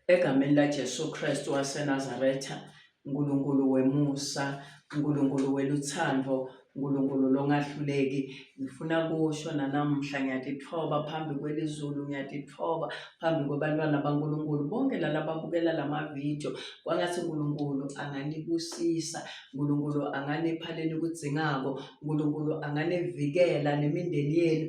egameni laJesu Kristu waseNazaretha uNkulunkulu wemusa uNkulunkulu weluthando uNkulunkulu longahluleki ngifuna kusho nanamuhla ngiyatithoba phambi kwelizulu ngiyatithoba phambi kwabantwana baNkulunkulu bonke lana babukela lama video kwangathi uNkulunkulu anganibusisa uNkulunkulu anganipha lenikudzingako uNkulunkulu anganivikela nemindeni yenu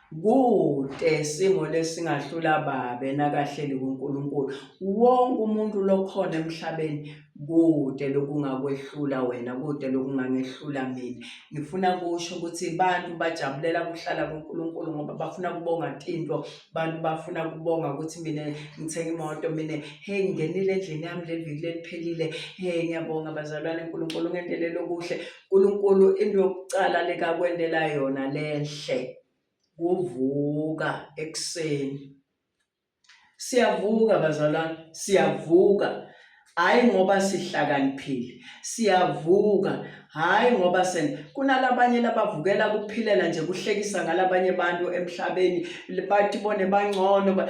Kute simo lesingahlula babe nakahleli kuNkulunkulu. Wonke umuntu lokhona emhlabeni kute lokungakwehlula wena, kute lokungangehlula mina. Ngifuna kusho ukuthi abantu bajabulela kuhlala kuNkulunkulu ngoba bafuna kubonga tinto, abantu bafuna kubonga ukuthi mina ngithenge imoto, mina hey ngingenile endlini yami leli viki leliphelile, hey ngiyabonga bazalwane uNkulunkulu ungendelele okuhle. Nkulunkulu into yokucala lekakwendela yona lenhle kuvuka ekuseni siyavuka bazalwane siyavuka hayi ngoba sihlakaniphile siyavuka hayi ngoba sen kunalabanye labavukela kuphilela nje kuhlekisa ngalabanye abantu emhlabeni bathi bone bangcono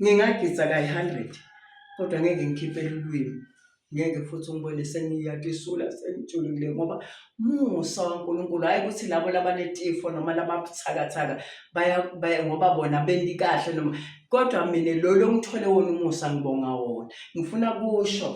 ngingagidza kayi-hundred kodwa ngeke ngikhiphele ulwimi ngeke futhi ungibone sengiyatisula sengijulukile ngoba musa wankulunkulu hhayi ukuthi labo labanetifo noma lababuthakathaka ngoba bona bendi kahle noma kodwa mina lolo ngithole wona umusa ngibonga wona ngifuna kusho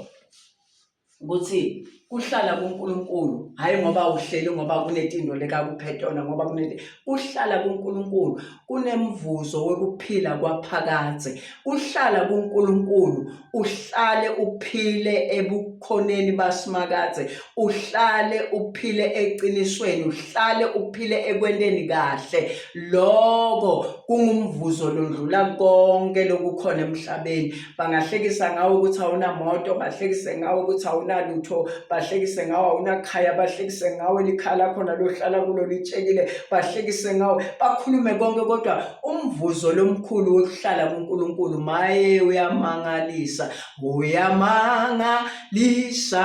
ukuthi kuhlala kuNkulunkulu hayi ngoba uhleli ngoba kunetindo lekakuphethona ngoba kuneti kuhlala kuNkulunkulu kunemvuzo wokuphila kwaphakade kuhlala kuNkulunkulu uhlale uphile ebukhoneni basimakaze uhlale uphile eqinisweni uhlale uphile ekwenteni kahle lokho kungumvuzo londlula konke lokukhona emhlabeni bangahlekisa ngawo ukuthi awunamoto bahlekise ngawo ukuthi awunalutho bahlekise ngawo awunakhaya bahlekise ngawo elikhaya lakho nalohlala kulo litshekile bahlekise ngawo bakhulume konke kodwa umvuzo lomkhulu wokuhlala kuNkulunkulu maye uyamangalisa uyamangalisa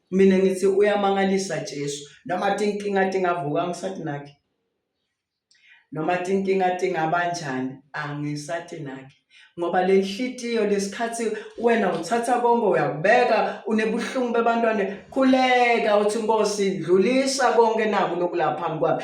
mina ngithi uyamangalisa Jesu noma tinkinga tingavuka angisathi nakhe noma tinkinga tingabanjani angisathi nakhe ngoba le nhlitiyo lesikhathi wena uthatha konke uyakubeka unebuhlungu bebantwane khuleka uthi nkosi dlulisa konke naku lokulapha phambi kwami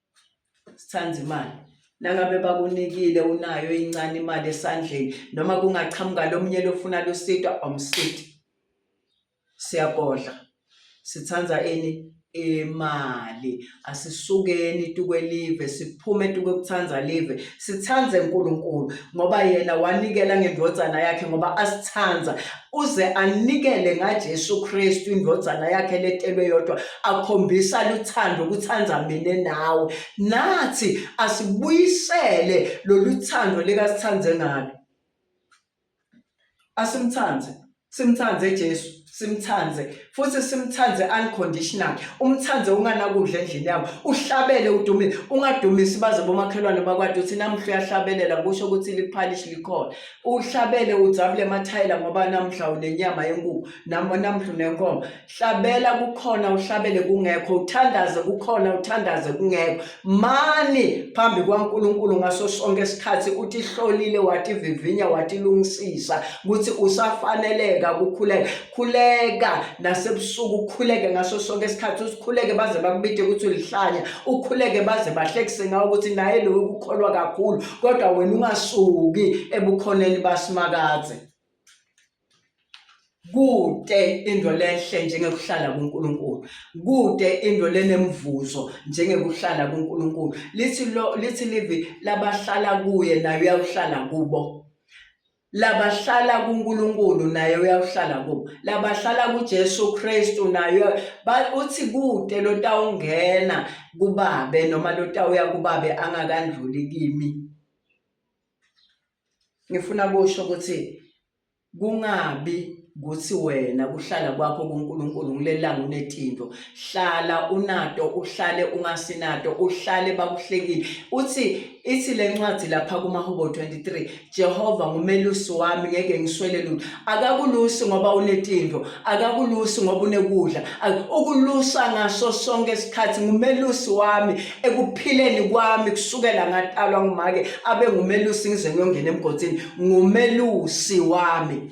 sithanda imali nangabe bakunikile unayo incane imali esandleni noma kungaqhamuka lomunye lofuna lusitwa omsiti siyagodla sithanda ini imali asisukeni tukwelive siphume tukwekuthanda live sithande uNkulunkulu ngoba yena wanikela ngendvodzana yakhe ngoba asithanda uze anikele ngaJesu Kristu indodana yakhe letelwe yodwa akhombisa luthando ukuthanda mina nawe nathi asibuyisele loluthando likasithande ngalo asimthande simthande Jesu simthande futhi simthande unconditional umthande unganakudla endlini yabo uhlabele udumile ungadumisi baze bomakhelwane bakwade uthi namhla uyahlabelela kusho ukuthi liphalish likhona uhlabele udzabule emathayela ngoba namhla unenyama yenkukhu namo namhla unenkomo hlabela kukhona uhlabele kungekho uthandaze kukhona uthandaze kungekho mani phambi kwaNkuluNkulu ngaso sonke isikhathi uthi hlolile wathi vivinya wathi lungisisa ukuthi usafaneleka kukhuleka khuleka nasebusuku ukhuleke ngaso sonke isikhathi usikhuleke baze bakubide ukuthi ulihlanya ukhuleke baze bahlekise ngawo ukuthi naye loyo ukukholwa kakhulu kodwa wena ungasuki ebukhoneni basimakadze kude into lenhle njengekuhlala kuNkulunkulu kude into lenemvuzo njengekuhlala kuNkulunkulu lithi lo lithi livi labahlala kuye naye uyahlala kubo labahlala kuNkulunkulu naye uyakuhlala kubo labahlala kuJesu Kristu naye uthi kude lotawungena kubabe noma lotawuya kubabe angakandluli kimi ngifuna kusho ukuthi kungabi kuthi wena kuhlala kwakho kuNkulunkulu ngilelanga unetinto hlala unato uhlale ungasinato uhlale bakuhlekile uthi ithi lencwadi lapha kumahubo 23 Jehova ngumelusi wami ngeke ngiswele lutho akakulusi ngoba unetinto akakulusi ngoba unekudla ukulusa ngaso sonke isikhathi ngumelusi wami ekuphileni kwami kusukela ngatalwa ngumake abe ngumelusi ngize ngiyongena emgodini ngumelusi wami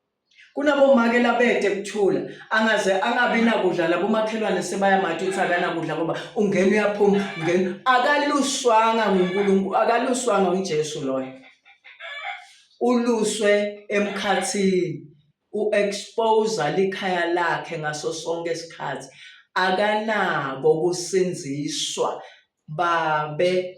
kunabomake labete kuthula angaze angabi nakudla labomakhelwane sebayamati ukuthi akanakudla ngoba ungena uyaphuma ungena akaluswanga ngunkulunkulu akaluswanga ujesu loyo uluswe emkhathini u-expose likhaya lakhe ngaso sonke isikhathi akanako ukusinziswa babe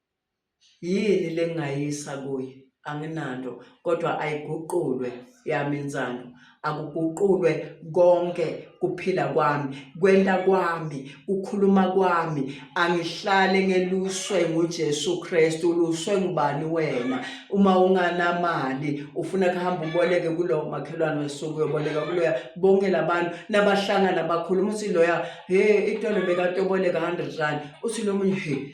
Yini lengingayisa kuye? Anginanto kodwa ayiguqulwe yami insando. Akuguqulwe konke kuphila kwami, kwenta kwami, kukhuluma kwami. Angihlale ngeluswe nguJesu Kristu. Uluswe ngubani wena? Uma unganamali ufuna kuhamba uboleke kulowo makhelwane wesuku uyoboleka kuloya. Bonke labantu nabahlangana bakhuluma uthi loya, "Hey, itolo bekatoboleka 100 rand." Uthi lomunye, "Hey,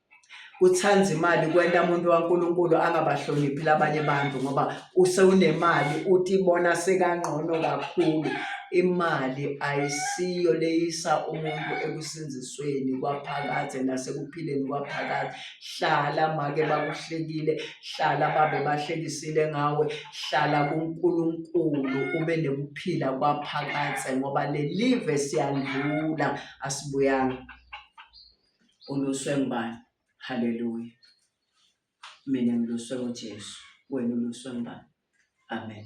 kuthanda imali kwenta umuntu waNkulunkulu angabahloniphi labanye abantu ngoba usewunemali uthi bona sekangqono kakhulu imali ayisiyo leyisa umuntu ekusindisweni kwaphakade nasekuphileni kwaphakade hlala make bakuhlekile hlala babe bahlekisile ngawe hlala kuNkulunkulu ube nekuphila kwaphakade ngoba lelive siyandlula asibuyanga uluswe ngubani haleluya mina ngiluswe ujesu wena uluswe ngubani amen